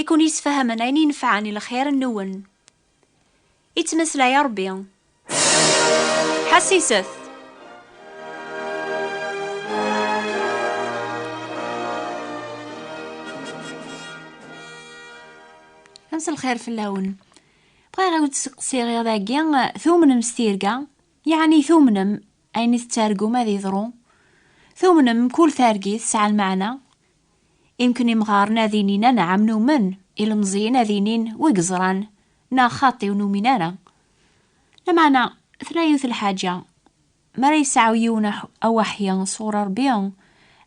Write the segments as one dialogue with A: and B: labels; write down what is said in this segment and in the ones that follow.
A: i ken-yesfahamen ayen inefɛen i lxir-nwen. Ittmeslay Ṛebbi. Ḥassiset! Ames lxir fell-awen. Bɣiɣ i wen-d-steqsiɣ iḍ agi, tumnem s tirga? Yeɛni tumnem ayen i tettargum ad yeḍru? Tumnem mkul targit tesɛa lmeɛna? Imken imɣaren ad inin anɛam numen, ilemẓiyen ad inin wi yeẓran, neɣ xaṭi ur numin ara. Lameɛna, tella yiwet lḥaǧa, mi ara yesɛu yiwen awaḥi sɣur Ṛebbi,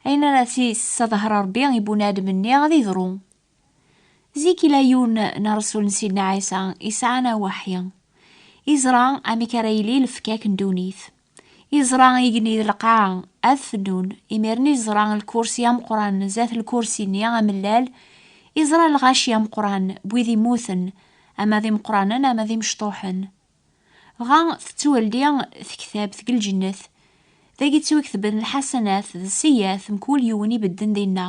A: ayen ara t-yesseḍher Ṛebbi i bunadem-nni ad yeḍru. Zik yella yiwen n ṛṛsul n Sidna Ɛisa yesɛan awaḥi, yeẓra amek ara yili lefkak n ddunit. Iẓra igenni d lqaɛa, ad fennun. Imiren iẓra lkursi ameqqran, zdat lkursi-nni amellal, iẓra lɣaci ameqqran, n wid immuten, ama d imeqqranen ama d imecṭuḥen. Dɣa tettweldi tektabt deg lǧennet, dagi ttwaktben lḥasanat d sseyyiat, mkul yiwen ibedden dinna.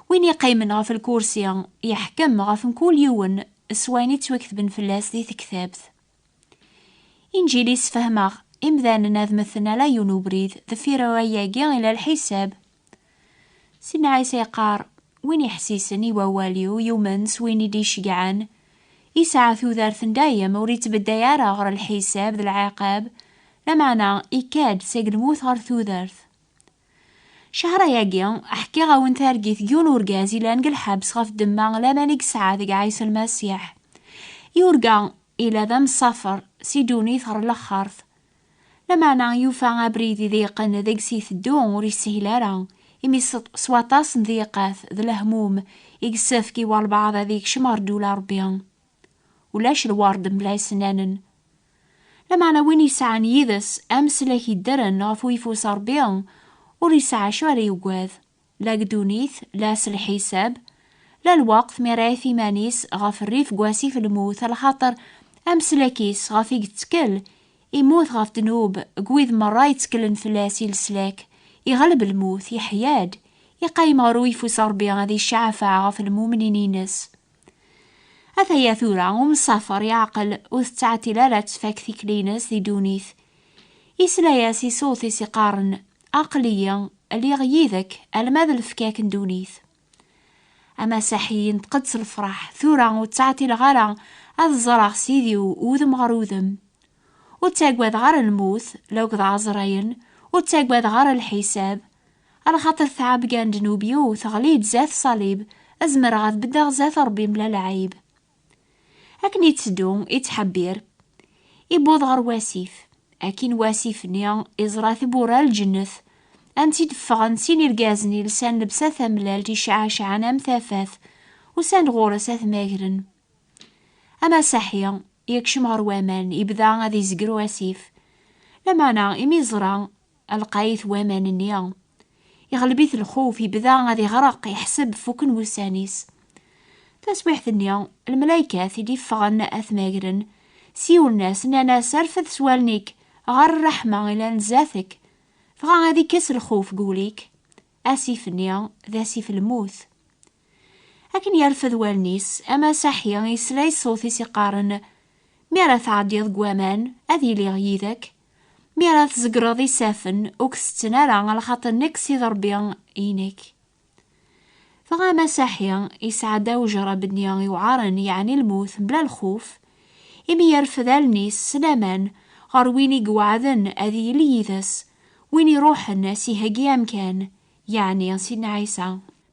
A: Win iqqimen ɣef lkursi, yeḥkem ɣef mkul yiwen s wayen i ttwaktben fell-as di tektabt. Injili sfehmeɣ imdanen ad meten ala yiwen ubrid deffir rray-agi ila lḥisab. Sidna Ɛisa yeqqar, win iḥessisen i wawal-iw yumen s win i d-iceggɛen, yesɛa tudert n dayem ur ittbedday ara ɣer lḥisab d lɛiqab, lameɛna ikka-d seg lmut ɣer tudert. Cehra-agi, ḥkiɣ-awen targit n yiwen urgaz yellan deg lḥebs ɣef ddemma n laman i yesɛa deg Ɛisa Lmasiḥ. Yurga yella d amsafer si ddunit ɣer laxert. Lameɛna yufa abrid i d-yeqqen deg-s iteddu ur yeshil ara, imi s waṭas n tdiqat d lehmum i yessefk i walbeɛḍ ad yekcem ɣer ddula n Rebbi. Ulac lward mebla isennanen. Lameɛna win yesɛan yid-s ameslak yeddren ɣef uyeffus n Ṛebbi, ur yesɛi acu ara yugad, la deg ddunit, la s lḥisab, la lweqt mi ara yaf iman-is ɣef rrif deg wasif n lmut, lxaṭer ameslak-is ɣef i yettkel, immut ɣef ddnub, deg wid merra yetteklen fell-as i leslak, iɣleb lmut, yeḥya-d, iqayyem ɣer uyeffus n Ṛebbi ad icceɛfeɛ ɣef lmumnin-ines. Ataya tura, umsafer yeɛqel ur tettɛetil ara ad tfak tikli-ines di ddunit. Yesla-as i ṣṣut-is iqqaren, Aql-iyi, lliɣ yid-ek alma d lefkak n ddunit. Amasaḥi yenṭeq-d s lefraḥ, Tura ur ttɛeṭileɣ ara ad ẓreɣ Sidi-w udem ɣer udem. Ur ttagadeɣ ara lmut, la ukḍeɣ aẓrayen, ur ttagadeɣ ara lḥisab. Ala xaṭer tɛabga n ddnub-iw teɣli-d zat ṣalib, ad zemreɣ ad beddeɣ zat Ṛebbi mla lɛayb. Akken itteddu, ittḥebbir. Iwweḍ ɣer wasif. Akkin wasif-nni, iẓra tiwwura n lǧennet. Ansi d-ffɣen sin irgazen ilsan lebsa tamellalt iceɛɛceɛɛen am tafat. Usan-d ɣur-s ad t-magren. Amasaḥi, yekcem ɣer waman, yebda ad izegru asif. Lamana, imi yeẓra lqayit waman-nni, iɣleb-it lxuf, yebda ad iɣreq, iḥseb fuken wussan-is. Taswiḥt-nni, lmelaykat i d-iffɣen ad t-magren, siwlen-as, nnan-as, Rfed s wallen-ik ɣer rreḥma ilan zdat-k, dɣa ad ikkes lxuf deg wul-ik. Asif-nni, d asif lmut. Akken yerfed wallen-is, amasaḥi yesla i ṣṣut-is iqqaren, Mi ara tɛeddiḍ deg waman, ad iliɣ yid-ek. Mi ara tzegreḍ isafen, ur k-tetten ara, lxaṭer nekk s id Ṛebbi inek. Dɣa amasaḥi yesɛedda ujerrab-nni iwɛaren, yeɛni lmut, mebla lxuf, imi yerfed allen-is s laman ɣer win i iweɛden ad yili yid-s, win iṛuḥen a s-iheggi amkan, yeɛni Sidna Ɛisa.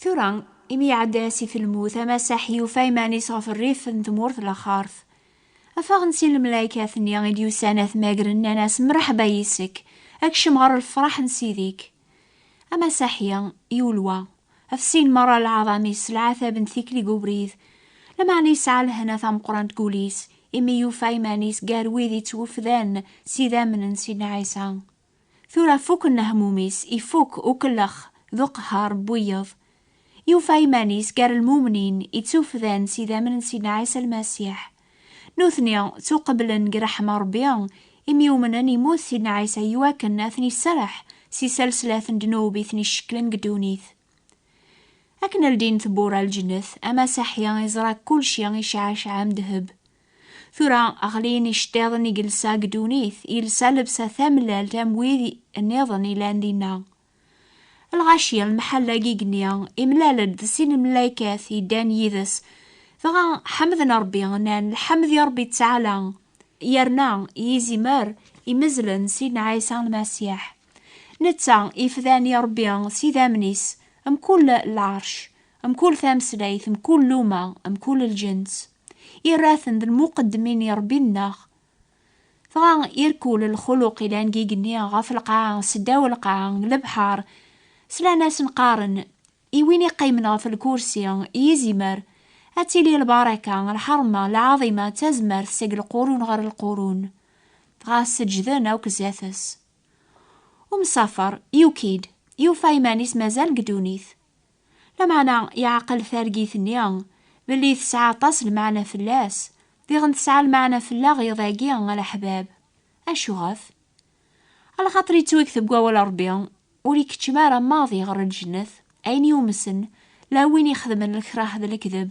A: Tura, imi iɛedda asif n lmut, Amasaḥ yufa iman-is ɣef rrif n tmurt laxart. Affaɣen sin lmelaykat-nni i d-yusan ad t-magren, nnan-as, Mreḥba yis-k, a kcem ɣer lefraḥ n Sidi-k. Amasaḥ ya, yulwa, ɣef sin merra lɛaḍam-is s lɛatab n tikli deg ubrid, lameɛna yesɛa lehna tameqqrant deg wul-is, imi yufa iman-is gar wid ittwufdan s idammen n Sidna Ɛisa. Tura fukk nnehmum-is, ifukk ukellex d uqehher n wiyeḍ, yufa iman-is gar lmumnin ittufdan s idammen n Sidna Ɛisa Lmasiḥ. Nutni ttuqeblen deg ṛṛeḥma Ṛebbi imi umnen immut Sidna Ɛisa iwakken ad ten-isserreḥ si saleslat n ddnub i ten-icekklen deg ddunit. Akken ldin tewwura n lǧennet, amasaḥi iẓra kulci iceɛceɛ am ddheb. Tura, ɣlin iceṭṭiḍen i yelsa deg ddunit, yelsa lebsa tamellalt am wid nniḍen yellan dinna. Lɣaci, lemḥalla i yigenni, imlal-d d sin n lmaykat yeddan yid-s, dɣa ḥemden Ṛebbi, nnan, Lḥemd i Ṛebbi ttaɛla, yerna i izimer imezzlen Sidna Ɛisa Lmasiḥ. Netta ifdan i Ṛebbi s idammen-is, mkul lɛerc, mkul tameslayt, mkul luma, mkul lǧens. iraten d lmuqedmin i Rebbi nneɣ. Dɣa irkul lxuluq ilan deg igenni ɣef lqaɛa s ddaw lqaɛa n lebḥar, slan-asen qqaren, I win iqqimen ɣef lkursi, i izimer, ad tili lbaraka, lḥerma, lɛaḍima d tazmert seg lqurun ɣer lqurun. Dɣa seǧǧden akk zdat-s. Umsafer, yuki-d, yufa iman-is mazal deg ddunit. Lameɛna yeɛqel targit-nni belli tesɛa aṭas lmeɛna fell-as, diɣen tesɛa lmeɛna fell-aɣ iḍ-agi a leḥbab. Acuɣef? A lxaṭer yettwakteb deg wawal n Ṛebbi, Ur ikeččem ara maḍi ɣer lǧennet ayen yumsen, la win ixedmen lekrah d lekdeb.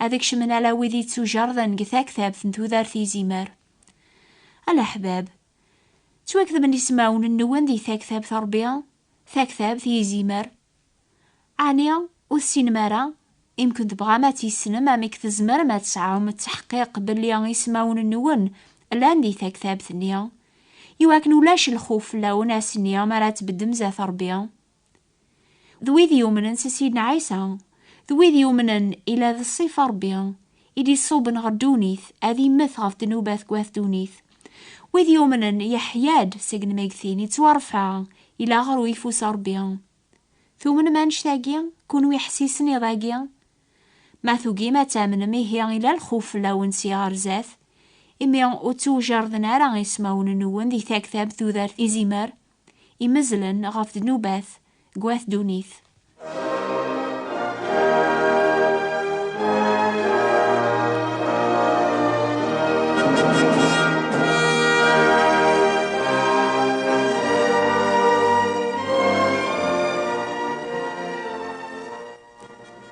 A: Ad kecmen ala wid yettujerden deg taktabt n tudert izimer. A leḥbab, ttwaketben ismawen-nwen di taktabt n Ṛebbi, Taktabt i yizimer? Ɛni ur tessinem ara? Imi kent-bɣam ad tt-yessnem, amek tzemrem ad tesɛum ttaḥqiq belli ismawen-nwen llan di taktabt-nni? I wakken ulac lxuf fell-awen ass-nni mi ara tbeddem zdat Rebbi. D wid yumnen s Sidna Ɛisa, d wid yumnen ila d ṣṣifa Rebbi, i d-iṣuben ɣer ddunit, ad immet ɣef ddnubat n wat ddunit. Wid yumnen, yeḥya-d seg lmeggtin, ittwarfa, ilaɣer uyeffus n Rebbi. Tumnem annect-agi? Kunwi ḥsisen iḍ-agi? Ma tugim ad tamnem, ihi ila lxuf fell-awen si ɣer zdat, imi ur ttewjarden ara ismawen-nwen di taktabt tudert izimer, imezzlen ɣef ddnubat deg wat ddunit.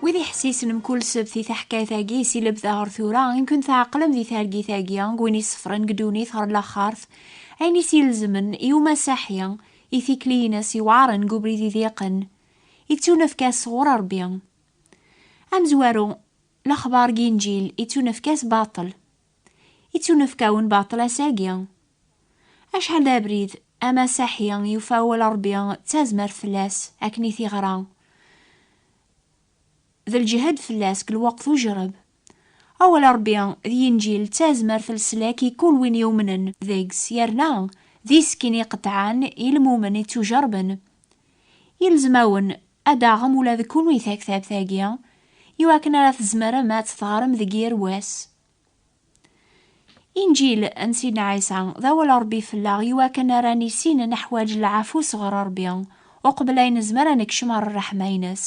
A: Wid iḥessisen mkul sebt i taḥkayt-agi si lebda ɣer tura, imkun tɛeqlem di targit-agi, n win isefren deg ddunit ɣer laxart, Ayen i s-ilezmen i umasaḥi i tikli-ines yewɛaren deg ubrid idiqen, i ttunefk-as sɣur Rebbi. Amezwaru, lexbar deg Inǧil i ttunefk-as baṭel. I ttunefk-awen baṭel ass-agi. Acḥal d abrid amasaḥi yufa awal n Rebbi d tazmert fell-as akken i t-iɣra, d lǧehd fell-as deg lweqt ujreb. Awal Ṛebbi d Yinǧil d tazmert leslak i kul win yumnen deg-s yerna d iskin iqeṭɛen i lmumen ittujeṛben. Yelzem-awen ad taɣem ula d kunwi taktabt-agi iwakken ara tzemrem ad tt-teɣrem deg yir wass. Inǧil n Sidna Ɛisa d awal Ṛebbi fell-aɣ iwakken ara nissin neḥwaǧ lɛafu sɣur Ṛebbi uqbel ay nezmer ad nekcem ɣer ṛṛeḥma-ines.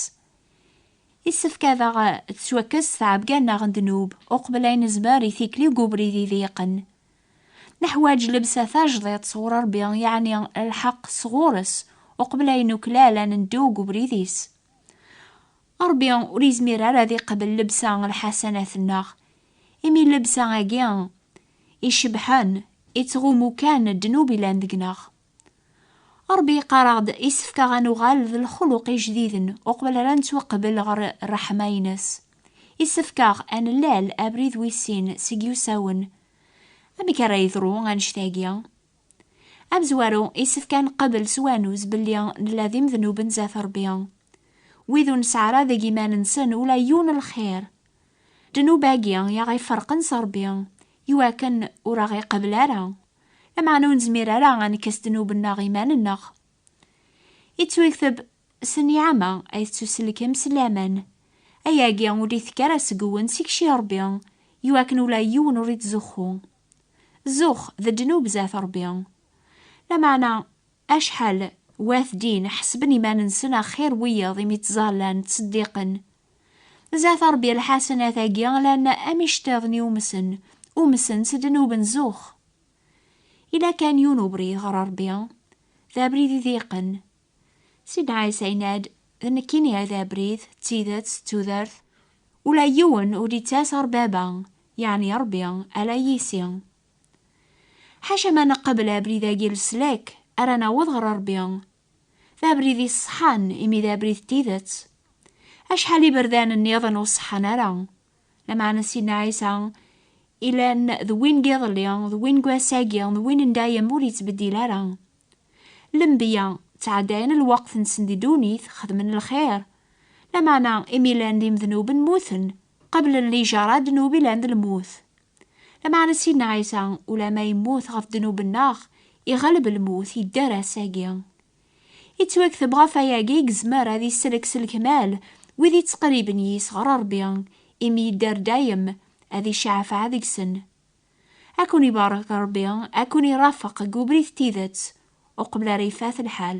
A: Yessefk ad aɣ-tettwakkes tɛebga-nneɣ n ddnub uqbel ay nezmer i tikli deg ubrid iḍeyqen. Neḥwaj llebsa tajdiṭ sɣur Ṛebbi, yeɛni lḥeqq sɣur-s, uqbel ay nuklal ad neddu deg ubrid-is. Ṛebbi ur yezmir ara ad iqbel llebsa n lḥasanat-nneɣ, imi llebsa-agi icebḥen ittɣummu kan ddnub yellan deg-neɣ. Ṛebbi yeqqar-aɣ-d yessefk-aɣ ad nuɣal d lexluq ijdiden uqbel ara nettwaqbel ɣer ṛṛeḥma-ines. Yessefk-aɣ ad nlal abrid wis sin seg yusawen. Amek ara yeḍru annect-agi? Amezwaru, yessefk ad nqabel s wanuz belli nella d imednuben zdat Ṛebbi. Wid ur nesɛi ara deg iman-nsen ula yiwen n lxir. Ddnub-agi i aɣ-iferqen s Ṛebbi, iwakken ur aɣ-iqabel ara. Lameɛna ur nezmir ara ad nekk asdnub-nneɣ iman-nneɣ. Yettwekteb s nniɛama ay tettuselkem s laman. Ayagi ur d-itekk ara seg-wen s ikci n Rebbi, iwakken ula yiwen ur ittzuxxu. Zzux d ddnub zdat Rebbi. Lameɛna acḥal Wat din ḥesben iman-nsen axir wiyaḍ imi ttẓallan, ttseddiqen, Zat Ṛebbi lḥasenat-agi lana am iceṭṭiḍen i umsen, umsen s ddnub n zux. Ila kan yiwen ubrid ɣer Ṛebbi, d abrid i diqen. Sidna Ɛisa yenna-d, D nekkini ay d abrid, d tidet, d tudert. Ula yiwen ur d-yettas ɣer Baba, yeɛni Ṛebbi, ala yis-i. Ḥaca ma neqbel abrid-agi n leslak ara naweḍ ɣer Ṛebbi, D abrid iṣeḥḥan imi d abrid n tidet. Acḥal iberdan nniḍen ur ṣeḥḥan ara. Lameɛna Sidna Ɛisa ilan d win n yiḍelli, d win n wass-agi, d win n dayem ur yettbeddil ara. Lenbiya ttɛeddayen lweqt-nsen di ddunit, xedmen lxir. Lameɛna imi llan d imednuben mmuten, qeblen lijaṛa ddnub ilan d lmut. Lameɛna Sidna Ɛisa, ulamma yemmut ɣef ddnub-nneɣ, iɣleb lmut, yedder ass-agi. Yettwakteb ɣef wayagi i yezmer ad isellek s lekmal wid yettqerriben yis ɣer Ṛebbi, imi yedder dayem, ad icaɛfeɛ deg-sen. Ad ken-ibarek Ṛebbi, ad ken-irafeq deg ubrid n tidet, uqbel ara ifat lḥal.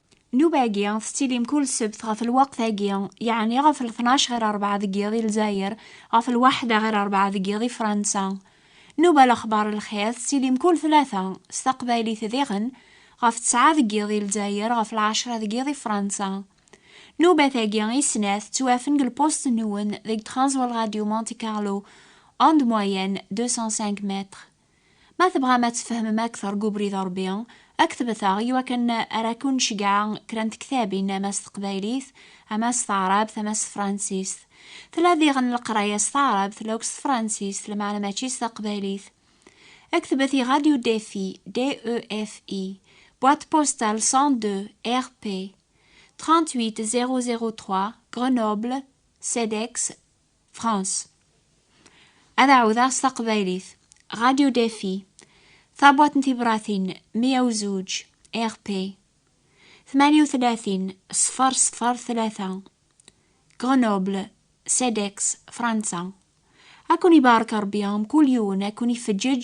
A: Nnuba-agi tettilim kul ssebt ɣef lweqt-agi, yeɛni ɣef lṭnac ɣir rebɛa deg yiḍ i Lezzayer, ɣef lwaḥda ɣir rebɛa deg yiḍ i Fransa. Nnuba Lexbar Lxir tettilim kul tlata, s taqbaylit diɣen, ɣef ttɛa deg yiḍ i Lezzayer, ɣef lɛecra deg yiḍ i Fransa. Nnubat-agi i snat ttwafen deg lpust-nwen deg Transworld Radio Monte Carlo, onde moyenne deux cent cinq mètres. Ma tebɣam ad tfehmem akteṛ deg ubrid n Ṛebbi, ktebet-aɣ i wakken ara ken-nceggɛa kra n tektabin ama s teqbaylit, ama s taɛṛabt, ama s tefṛansist. Tella diɣen leqraya s taɛṛabt, tella akk s tefṛansist, lameɛna mačči s taqbaylit. Ktebet i Radio Defi, DEFI, Boîte postale 102, RP, 38003, Grenoble, CEDEX, France. Ad ɛawdeɣ s taqbaylit. Radio Défi. Tabwaṭ n tibratin 102 RP. 38 ṣfeṛ ṣfeṛ tlata. Grenoble, CEDEX, Fransa. Ad ken-ibarek Ṛebbi mkul yiwen, ad ken-ifeǧǧeǧ